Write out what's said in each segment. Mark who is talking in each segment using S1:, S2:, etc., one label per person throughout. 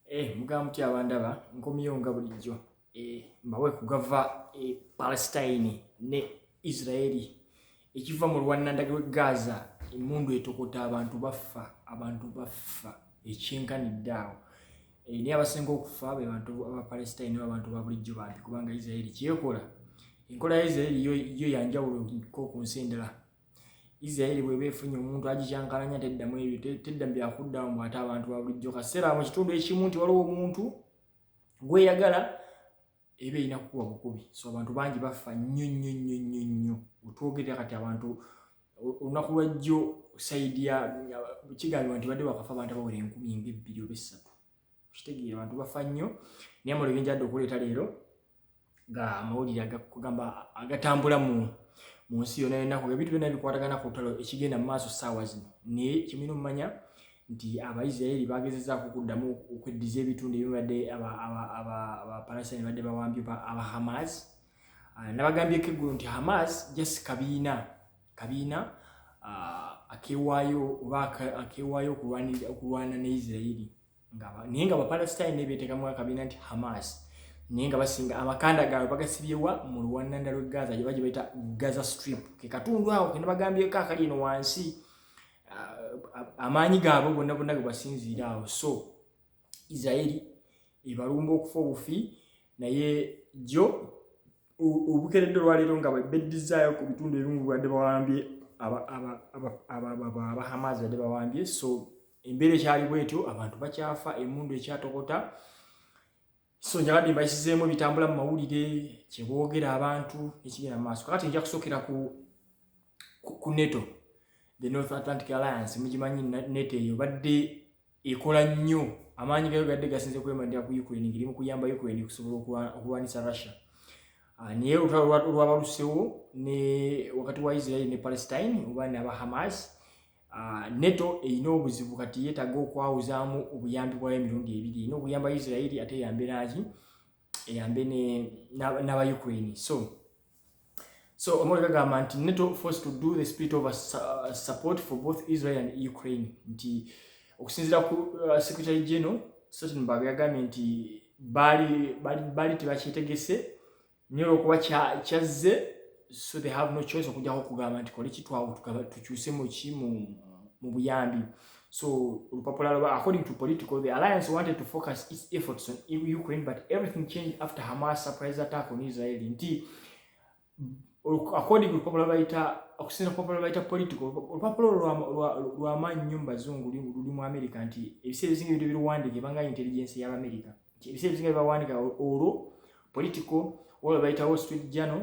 S1: Eh, mugamba mutya abandaba nkomyewo nga bulijjo eh, mbawe kugava e eh, palestine ne israeli ekiva mu lwanandage we gaza emundu etokota abantu baffa abantu baffa ekyenkanidde awo eh, naye abasinga okufa be bantu abapalestine neba bantu babulijjo bambi kubanga israeli kyekola enkola ya israeli yo yanjawulo ko ku nsi endala isiraeri bweba efunye omuntu agikyankalanya teddamu ebyo tedda byakuddamu bwate abantu babulijjo kaseera mu kitundu ekimu nti waliwo omuntu gweyagala eba erina kukuba bukubi so abantu bangi bafa nnyo nnyo nnyo nnyo nnyo otwogerera kati abantu olunaku lwajjo saidi ya kigambibwa nti badde bakafa abantu abawera enkumi nga ebbiri oba essatu kitegeera abantu bafa nnyo naye amalo binjadde okuleeta leero nga amawulire agakugamba agatambula mu mu nsi yona yonaku ebintu byona bikwatagana ku lutalo ekigenda mu maaso saawa zino naye kimina omumanya nti abaisiraeri bagezezaako okuddamu okweddiza ebitundu ebibadde abapalasani badde bawambye aba hamas ah, nabagambyeko eggulu nti hamas just kabiina kabiina akewaayo oba akewaayo okulwana ne isirairi naye nga bapalestine nebeteekamu akabiina nti hamas naye nga basinga amakanda gaabwe bagasibyewa mu luwannanda lwe gaza gye bagye bayita gaza strip ke katundu awo kena bagambyeko akali eno wansi amaanyi gaabwe gonna gonna ge basinziira awo so isiraeri ebalumba okufa obufi naye jjo obukeredde olwaleero nga bebeddizayo ku bitundu ebimu bwadde bawambye abahamazi badde bawambye so embeera ekyali bwetyo abantu bakyafa emundu ekyatokota so njabadde mbayisizeemu ebitambula mu mawulire kyeboogera abantu ekigenda mu maaso kakati nja kusokera ku ku neto the north atlantic alliance mugimanyi neto eyo badde ekola nnyo amaanyi gayo gadde gasinze kwemalira ku ukraine ngeri mu kuyamba ukraine okusobola okulwanyisa russia ah, naye olutalo lwabalusewo ne wakati wa israeli ne palestine oba ne aba hamas ah, neto erina obuzibu kati yetaga okwawuzaamu obuyambi bwayo emirundi ebiri erina okuyamba israeli ate eyambe naaki eyambe n'aba ukraine so So Omori kagamba nti NATO forced to do the spirit of a uh, support for both Israel and Ukraine nti okusinzira ku uh, Secretary General Sultan Babe yagambye nti baali baali tebakyetegese nyo olwokuba kyazze so they have no choice okujjako okugamba nti kole kitwawo tukyuse muki mu buyambi So olupapula lwa according to political the alliance wanted to focus its efforts on Ukraine but everything changed after Hamas surprise attack on Israel nti according to olupapula lwabayita okusinza olupapula lwabayita political olupapula lwamaanyi nnyo mu bazungu luli mu america nti ebiseera ebisinga ebintu biruwandiika ebanga intelligence y'abamerica ebiseera ebisinga bibawandiika olwo political olwo bayita wall street journal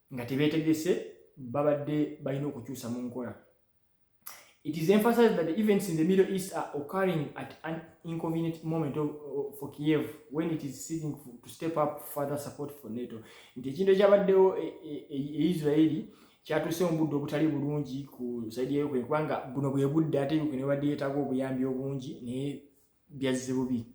S1: nga tebetegese babadde balina okukyusa mu nkola it is emphasized that the events in the middle east are occurring at an inconvenient moment of, of, for kiev when it is seeking to step up further support for nato nti ekintu ekyabaddewo e, e, e, e israeli kyatuuse mu budde obutali bulungi ku saidi ya ukraine kubanga buno bwe budde ate ukraine ebadde yeetaaga obuyambi obungi naye byazze bubi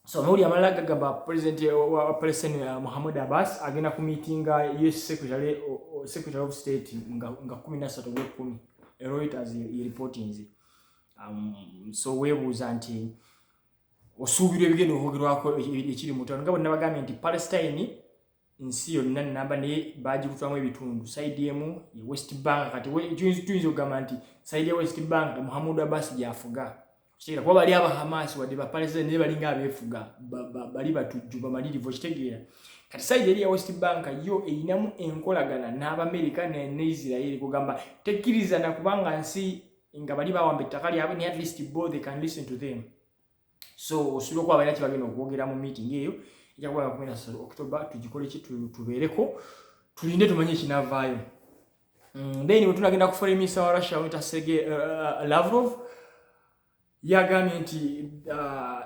S1: so amawulire amalala gagamba president wa palestine uh, muhammad abbas agenda ku meetinga us secretary, uh, secretary of state nga, nga kumi nasatu gwekumi reuters yereportinze um, so webuuza nti osuubirwa ebigenda okwogerwako e, e, ekiri mutano nga bwenabagambye nti palestine nsi yonna namba naye bagikutwamu ebitundu saidi emu ye west bank kati tuyinza okugamba nti saidi ya west bank muhammud abbas gyafuga kitegeera kuba bali abahamaasi wadde bapalestina naye balinga abeefuga bali batujju bamalirivu okitegeera kati saidi eri ya west bank yo erinamu enkolagana n'abamerika ne israeli kugamba tekkiriza nakubanga nsi nga bali bawamba ettaka lyabwe ne at least bo they can listen to them so osuubira okuba balina kyebagenda okwogera mu meeting eyo ejakuba nakumina sal october tugikole ki tubeereko tulinde tumanye ekinavaayo mm, then wetunagenda kufula eminisa wa russia weta sege uh, uh, lavrov yagambye nti uh,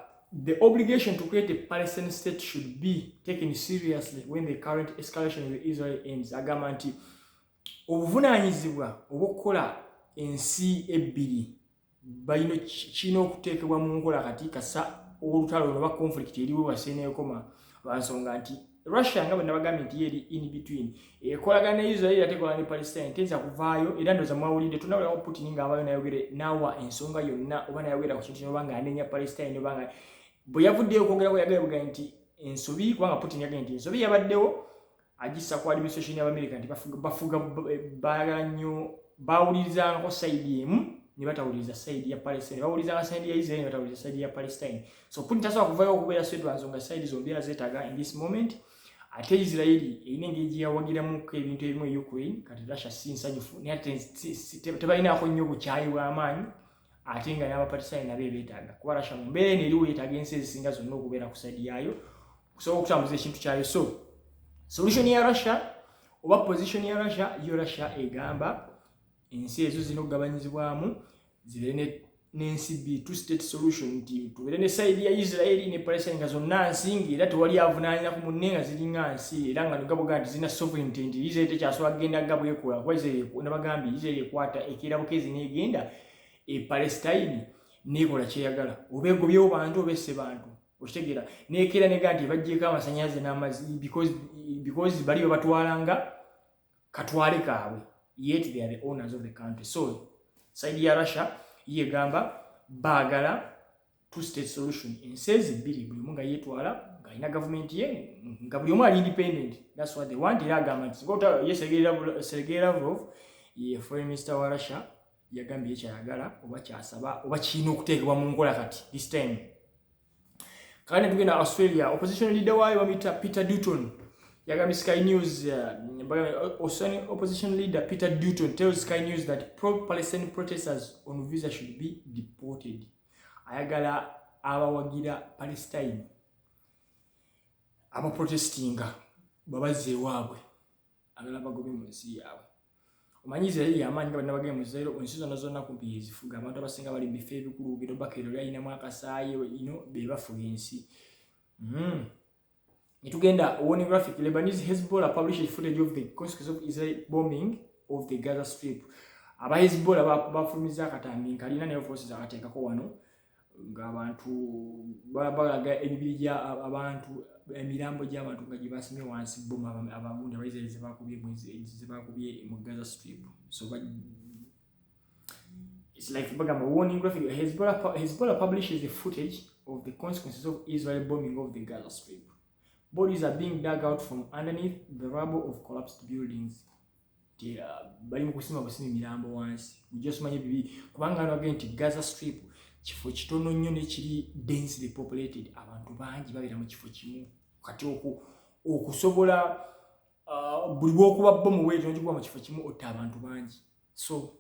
S1: the obligation to create a palestine state should be taken seriously when the current escalation with israel ends agamba nti obuvunaanyizibwa obwokukola ensi ebbiri balina kirina okuteekebwa mu nkola kati kasa olutalo luno oba conflict eriwo wasi eneekoma lwa nsonga nti russia nga bwe nabagambye nti yeeri in between ekolagana ne israel ate ekola ne palestine teyinza kuvaayo era ndoza mwawulidde tunawulawo putin ng'avaayo nayogere naawa ensonga yonna oba nayogera ku kintu kino obanga anenya palestine obanga bwe yavuddeyo okwogera kwe yagaye bugaye nti ensobi kubanga putin yagaye nti ensobi yabaddewo agissa ku administration y'abamerika nti bafuga baagala nnyo bawulirizangako sayidi emu ne batawuliriza sayidi ya palestine bawulirizanga sayidi ya israel ne batawuliriza sayidi ya palestine so putin tasobola kuvayo okubeera sedwanso nga sayidi zombi era zeetaaga in this moment ate israeli erina engeri gye yawagiramuko ebintu ebimu e ukraine kati russia si nsanyufu naye ate tebalinaako nnyo bukyayi bw'amaanyi ate nga n'abapatisaani nabo ebeetaaga kuba russia mu mbeera eno eriwo yeetaaga ensi ezisinga zonna okubeera ku sayidi yaayo kusobola okutambuza ekintu kyayo so solution ya russia oba position ya russia yo russia egamba ensi ezo zirina okugabanyizibwamu zibeere n'ensi bi two state solution nti tubeere ne saidi ya israeli ne palestine nga zonna nsi nga era tewali avunaanira ku munne nga ziringa nsi era nga nogaboga nti zirina sovereignty nti israeli tekyasobola kugenda nga bwekola kuba israeli nabagambye israeli ekwata ekeera bukezi neegenda e palestine neekola kyeyagala oba egobyewo bantu oba esse bantu okitegeera nekeera nega nti ebajjeeko amasanyalaze n'amazi because bali babatwalanga katwale kaabwe yet they are the owners of the country so saidi ya russia yegamba baagala two state solution ensezi bbiri buli omu nga yetwala ngaalina gavumenti ye nga buli omu ali independent thats what they want era agamba nti singa otayesegeera seregeera lavrov ye foreign minister wa russia yagambye kyayagala oba kyasaba oba kirina okuteekebwa mu nkola kati this time kale tugenda australia opposition leader waayo bamuyita peter duton yagambye sky news uh, osani opposition leader peter duton tells sky news that pro palestine protesters on visa should be deported ayagala abawagira palestine abaprotestinga babazze ewaabwe agala bagobe mu nsi yaabwe omanyi isirairi yamaanyi nga balina bagenda mu zairo ensi zonna zonna kumpi yezifuga abantu abasinga bali mu bifo ebikulu ogenda obaka ero lyalinamu akasaayi ino bebafuga ensi hmm. netugenda warning graphic lebanese hezbollah published footage of the consequence of israel bombing of the gaza strip aba hezbollah bafulumiza akatambi nkalina naye forces akateekako wano ng'abantu balaga emibiri gya abantu emirambo gy'abantu nga gye basimye wansi bomu abagundi abaisraeli zebakubye mu gaza strip so it's like bagamba warning graphic hezbollah, hezbollah publishes the footage of the consequences of israel bombing of the gaza strip bodies are being dug out from underneath the rubble of collapsed buildings bali mu kusima busima emirambo wansi ujasumanye bibi kubanga nabage nti gaza strip kifo kitono nnyo nekiri densely populated abantu bangi babeera mu kifo kimu kati oku okusobola uh, buli bwokuba bo muweeto nokikuba mu kifo kimu otta abantu bangi so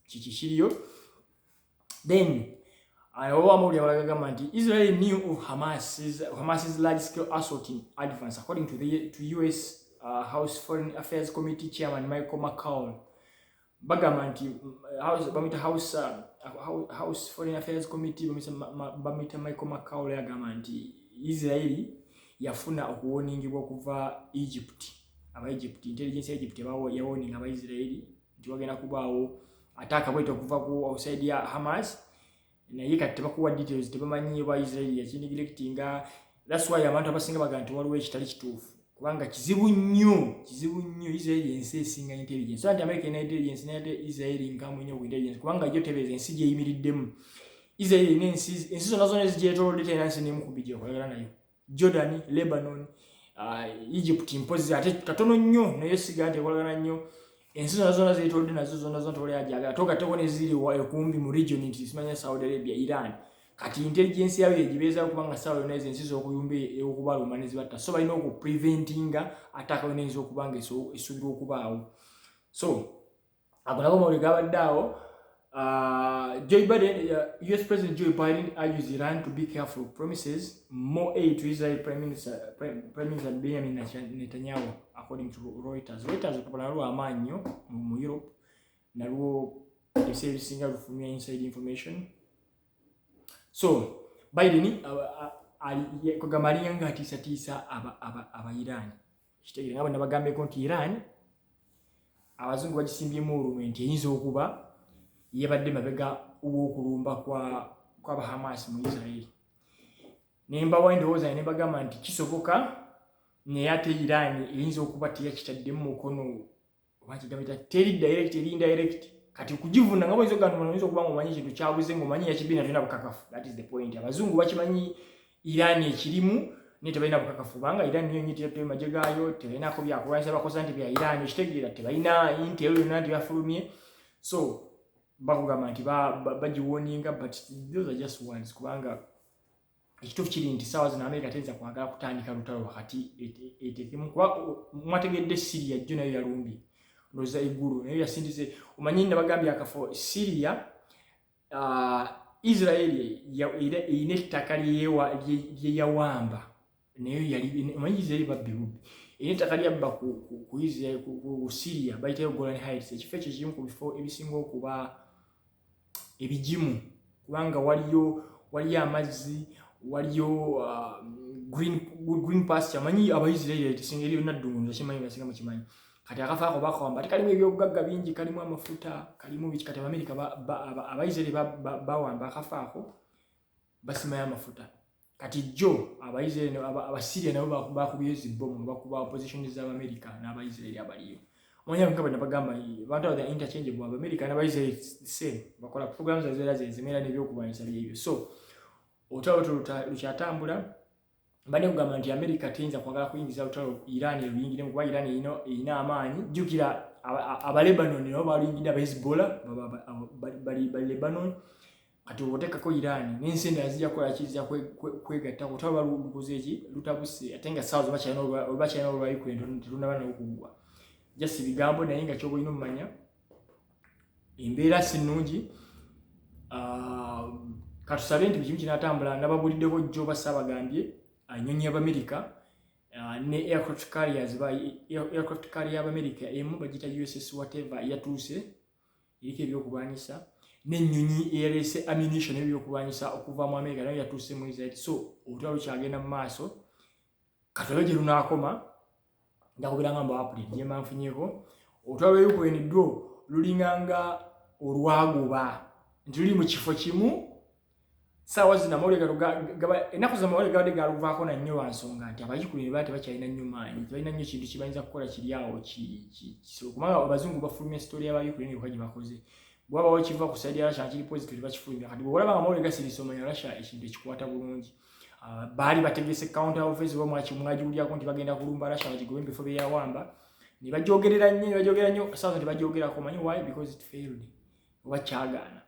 S1: kiki kiriyo then oba amawulire abalala gagamba nti israel new of hamas's, hamas's large scale assault in advance according to, the, to us uh, house foreign affairs committee chairman michael mccown bagamba nti uh, bamita house, uh, house foreign affairs committee bamita michael mccown agamba nti israeli yafuna okuwoningibwa okuva egypt aba egypt intelligence ya egypt yawoninga abaisraeli nti wagenda kubaawo ate akabweta okuva ku outside ya hamas naye kati tebakuwa details tebamanyi oba israeli yakindigilectinga thats why abantu abasinga baga nti waliwo ekitali kituufu kubanga kizibu nnyo kizibu nnyo israeli ensi esinga intelligence so nti america ena intelligence nate israeli nkamu nnyo ku intelligence kubanga jo tebeeza ensi gyeyimiriddemu israeli ena ensi zonna zonna ezigyetolodde tena nsi nemu kubbi gyekolagana nayo Jordan, Lebanon, uh, Egypt mpozi ate katono nnyo naye siga tekolagana nnyo ensi zona zona zetolodde nazo zona zona tewali ajagala togateko neziri kumbi mu region nti simanya Saudi Arabia, Iran kati intelligence yayo egibeeza okuba nga sawa yona ezo ensi zokuyumba okubaluma nezibatta so balina okupreventinga ataka yona eyinza okuba nga esuubirwa okubaawo so ago nago mawuli gabadde awo Uh, Joe Biden, uh, U.S. President Joe Biden urges Iran to be careful, promises more aid to Israel Prime Minister, Prime, Prime Minister Benjamin Netanyahu, according to Reuters. Reuters okupala nalwo amaanyi nnyo mu Europe nalwo ebiseera ebisinga lufumya inside information. So Biden uh, uh, kwegamba alinga ng'atiisatiisa aba, aba, aba Iran kitegere nga bwe nabagambyeko nti iran abazungu bagisimbyemu olunwe nti eyinza okuba yebadde mabega wokulumba kwabahamas mu israeli nembawa endowooza ne nebagamba nti kisoboka naye ate iran eyinza okuba teyakitaddemu mukono oba kigabita teri direct eri indirect kati kujivuna nga boyinza okugamba oyinza okuba nga omanyi ekintu kyabuze nga omanyi yakibbi nakyo na bukakafu that is the point abazungu bakimanyi irani ekirimu naye tebalina bukakafu kubanga irani niyo nyo teyattoyo magye gaayo tebalinako byakulwanyisa bakoza nti bya irani okitegeera tebalina intel yonna nti yafulumye so bakugamba nti bagiwoninga but those are just ones kubanga ekituufu kiri nti saawa zino amerika teyinza kwagala kutandika lutalo wakati etekemu kuba mwategedde siriya jjo nayo yalumbye ndoza eggulu nayo yasindize omanyi nabagambye akafo siriya uh, israeli erina ettaka lyeyawamba nayo omanyi israeli babbi bubbi era ettaka lyabba ku israeli ku siriya bayitayo golan hights ekifo ekyo kimu ku bifo ebisinga okuba ebigimu kubanga waliyo waliyo amazzi waliyo uh, green, green pasture amanyi abaisirairi singa eriyo naddungu ngakimanyi ngasinga mukimanyi kati akafa ako bakawamba ati kalimu ebyobugagga bingi kalimu amafuta kalimu biki kati abamerika abaisirairi bawamba akafa ako basimayo amafuta kati jjo abaisraeli abasiria nabo bakubayo zibomu bakuba opposition z'abamerika n'abaisraeli abaliyo omanya nga bana bagamba abantu abo interchange bwa abamerika n'abaisraeli same bakola program za zera zezimera n'ebyokulwanyisa byebyo so otalo lukyatambula mbadde kugamba nti amerika teyinza kwagala kuyingiza lutalo iran eruyingiremu kuba iran erina erina amaanyi jjukira abalebanon nabo baluyingidde abahezbollah bali lebanon kati otekako irani nensi endala zija kukola ki zija kwegatta kutaba balubukoze eki lutabuse ate nga saawa zobakyalina olbakyalina olwayiko ento telunaba nawo kuggwa jasi bigambo naye nga kyoba olina omumanya embeera si nnungi ah, katusabe nti bukimu kinatambula nababuliddeko jjo basaabagambye anyonyi yabamerika ah, ne aircraft carriers ba aircraft carrier yabamerika emu bagita uss whatever yatuuse eriko ebyokulwanyisa n'ennyonyi eyaleese ammunition n'ebyokulwanyisa okuva mu amerika nayo yatuuse mu israel so olutalo lukyagenda mu maaso katobe gye lunaakoma ndakuberanga mbu apuli gyemanfunyeko olutalo lwa ukraine dwo lulinganga olwagoba nti luli mu kifo kimu saawa zino amawulire gano ennaku za mawulire gabadde galuvaako na nnyo lwansonga nti abayikulu ne baa tebakyalina nnyo maanyi tebalina nnyo kintu kibayinza kukola kiri awo kisolo kubanga abazungu bafuluma esitooli y'abayikulu ne byoka gye bakoze bwabawo kiva ku saidi ya rasha kiri pozito tebakifulumya kati bwolaba nga mawulire gasirisa omanya rasha ekintu ekikwata bulungi ah, baali bategese counter office oba mwaki mwagiwulyako nti bagenda kulumba rasha bagigobe mu bifo byeyawamba ne bagyogerera nnyo ne bagyogerera nnyo saawa nti bagyogerako omanyi why because it failed oba kyagaana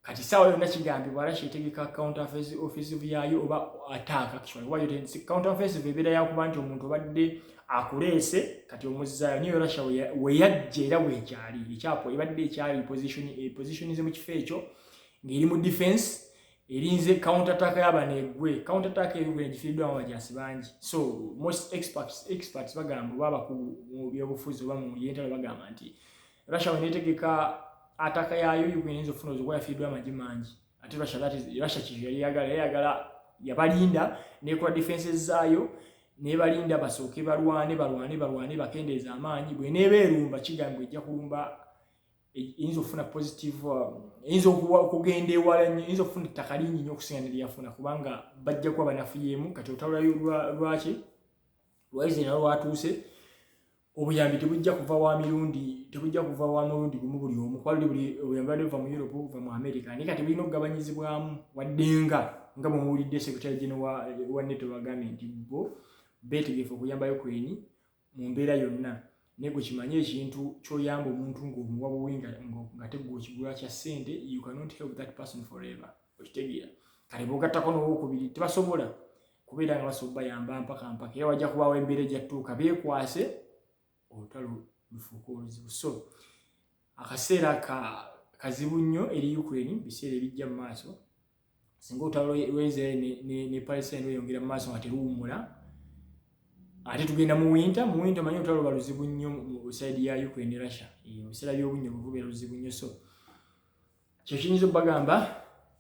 S1: kati saawa yonna kigambibwa ara kyetegeka account office office yayo oba attack actually why didn't see account office bebera yakuba nti omuntu obadde akuleese kati omuzzayo niyo rasha weyajja era wekyali ekyapo ebadde ekyali position e position ze mu kifo ekyo ng'eri mu defense erinze counter attack yaba negwe counter attack eri gwe gifiddwa mu bajasi bangi so most experts experts bagamba baba ku mu byobufuzi oba mu yentalo bagamba nti Russia wenetegeka ataka yayo Ukraine yinza okufuna obuzibu yafiiddwa amagi mangi ate Russia that is Russia kiri yali yagala yali yagala yabalinda nekola defenses zaayo nebalinda basooke balwane balwane balwane bakendeeza amaanyi bweneeba erumba kigambwa ejja kulumba e, eyinza okufuna positive um, eyinza okugenda ewala nyo eyinza okufuna ettaka lingi nyo okusinga nelyafuna kubanga bajja kuba banafuyeemu kati otawulayo lwaki lwaize nalwatuuse obuyambi tebujja kuva wa mirundi tebujja kuva wa mulundi gumu buli omu kuba luli buli obuyambi badde buva mu europe buva mu america naye kati bulina okugabanyizibwamu waddenga nga bwemuwulidde secretary gene wa neto bagambye nti bo betegefu okuyamba ukraine mu mbeera yonna naye gwe kimanye ekintu kyoyamba omuntu ngaomuwa buwi nga tegwa okigula kya ssente you cannot help that person forever okitegeera kati bogattako nowokubiri tebasobola kubeera nga basobola bayamba mpaka mpaka era wajja kubaawo embeera ejattuuka beekwase olutalo lufuuka oluzibu so akaseera ka kazibu nnyo eri ukraine biseera ebijja mu maaso singa olutalo lwaisraeli ne palestine lweyongera mu maaso nga teruwummula ate tugenda mu winta mu winta manyi olutalo luba luzibu nnyo mu saidi ya ukraine russia ebiseera by'obunnyo buvubeera luzibu nnyo so kyo kiyinza okubagamba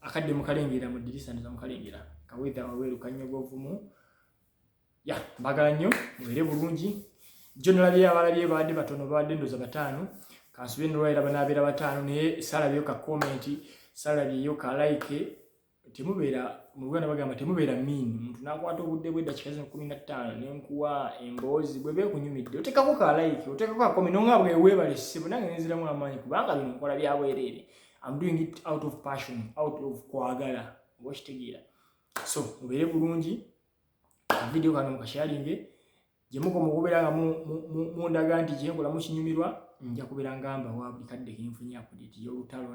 S1: akadde mukalengera mu dirisa ndoza mukalengera kawedha waweeru kanyogovumu ya mbagala nnyo mubeere bulungi jo nalabye abalabye baadde batono baadde ndoza bataano kansube nolwaira banaabeera bataano naye salabyeyo ka komenti salabyeyo ka like temubeera mu luganda bagamba temubeera miin omuntu nakwata obudde bwe dakika zino kumi na ttaano nenkuwa emboozi bwe bekunyumidde otekako ka like otekako akomi nonga bwe webale ssebo nange nenziramu amaanyi kubanga bino nkola byabwereere am doing it out of passion out of kwagala oba okitegeera so mubeere bulungi akavidiyo kano mukasharinge gye mukoma okubeera nga mundaga nti kyenkola mukinyumirwa nja kubeera nga mbawa buli kadde kenfunye apudeti y'olutalo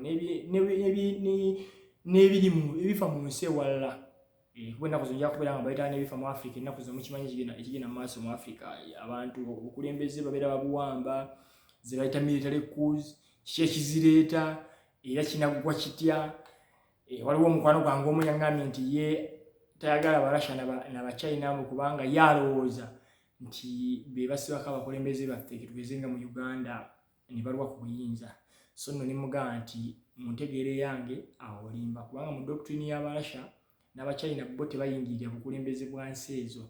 S1: n'ebirimu ebifa mu nsi ewalala eh, kuba ennaku zonja kubeera nga bayitala n'ebifa mu afrika ennaku zo mukimanyi ekigenda mu maaso mu afrika abantu obukulembeze babeera babuwamba ze bayita military cous kiki ekizireeta era kinaggwa kitya Eh, waliwo omukwano gwange omu yaŋambye nti ye tayagala barussia nabachina mu kubanga ye alowooza nti be basibako abakulembeze baffe ketugeze nga mu uganda ne balwa ku buyinza so nno nemugamba nti mu ntegeera eyange awo olimba kubanga mu doctrine ya barussia nabachina bo tebayingirira bukulembeze bwa nsi ezo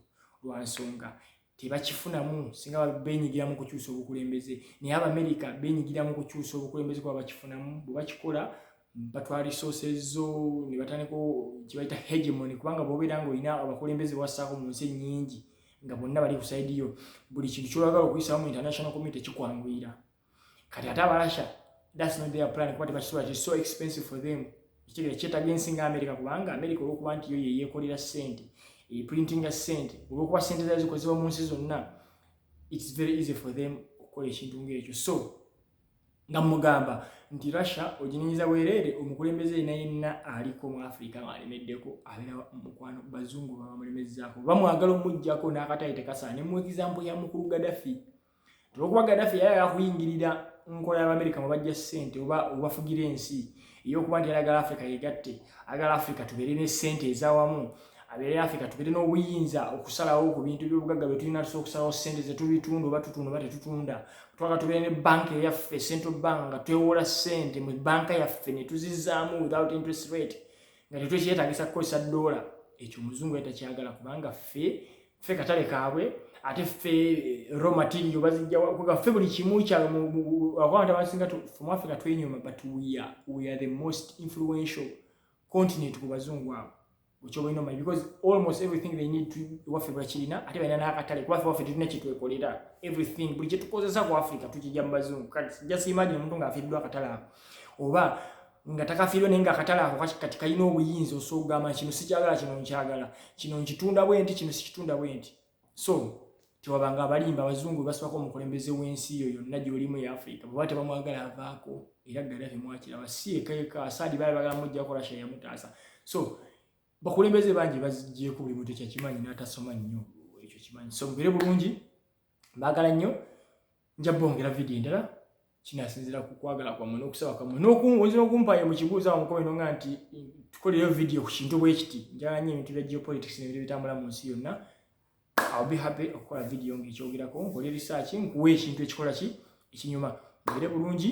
S1: lwa nsonga tebakifunamu singa benyigira mu kukyusa obukulembeze naye abamerika benyigira mu kukyusa obukulembeze kuba bakifunamu bwe bakikola batwala resources zo ne batandika kibayita hegemony kubanga bwobeera nga olina abakulembeze bwassaako mu nsi ennyingi nga bonna bali ku saidi yo buli kintu kyolagala okuyisaamu international community kikwanguyira kati ate abarasha that's not their plan kuba tebakisobola kiri so expensive for them ekitegeera kyetaga ensi nga america kubanga america olwokuba nti yo yeyekolera sente eprintinga sente olwokuba sente zayo zikozebwa mu nsi zonna its very easy for them okukola ekintu ngaekyo so nga mugamba nti russia oginenyiza bwereere omukulembeze yena yenna aliko mu africa ngaalemeddeko abeera mukwano bazungu babamulemezaako bamwagala omujjako n'akatayi tekasaa ne mu example ya mukulu gadafi olwokuba gaddafi yali ayagala kuyingirira nkola y'abamerika mwe bajja ssente oba obafugira ensi ey'okuba nti ayagala afrika yegatte ayagala afrika tubeere ne ssente ezawamu abeere afrika tubeere n'obuyinza okusalawo ku bintu by'obugagga bye tulina tusa okusalawo ssente ze tubitunda oba tutunda oba tetutunda twaka tubeere ne banka eyaffe central bank nga twewola ssente mu banka yaffe ne tuzizaamu without interest rate nga tetwekyetagisa kukozesa doola ekyo omuzungu yatakyagala kubanga ffe ffe katale kaabwe ate ffe eh, raw material bazijjawa ffe buli kimu kyawabantu abasinga fumwafrika twenyoma but we are, we are the most influential continent ku bazungu abo okyobalina omanyi because almost everything they need waffe bakirina ate balina nakatale kubaffe waffe tulina kyetwekolera everything buli kyetukozesa ku africa tukijja mu bazungu just imagine omuntu ngaafiiriddwa akatale ako oba nga takafiirwe naye nga akatale ako kati kalina obuyinza osobola okugamba kino sikyagala kino nkyagala kino nkitunda bwe nti kino sikitunda bwe nti so tewabanga abalimba abazungu basibako omukulembeze w'ensi yo yonna gyolimu eya afirika bweba tebamwagala avaako era ddala temwakiraba si ekayeka asaadi bali bagala mujja kola sha yamutaasa so bakulembeze bangi bazijjeeko buli muntu ekyakimanyi n'atasoma nnyo ekyo kimanyi so mubere bulungi mbaagala nnyo nja bongera video endala kinasinzira ku kwagala kwammwe n'okusaba kwammwe n'okuwunza n'okumpayo mu kibuuzo awo mukobe nonga nti tukoleyo video ku kintu bwekiti njala nyo ebintu bya geopolitics nebintu bitambula mu nsi yonna I'll be happy okukola video ng'ekyogerako nkole research nkuwa ekintu ekikola ki ekinyuma mbeere bulungi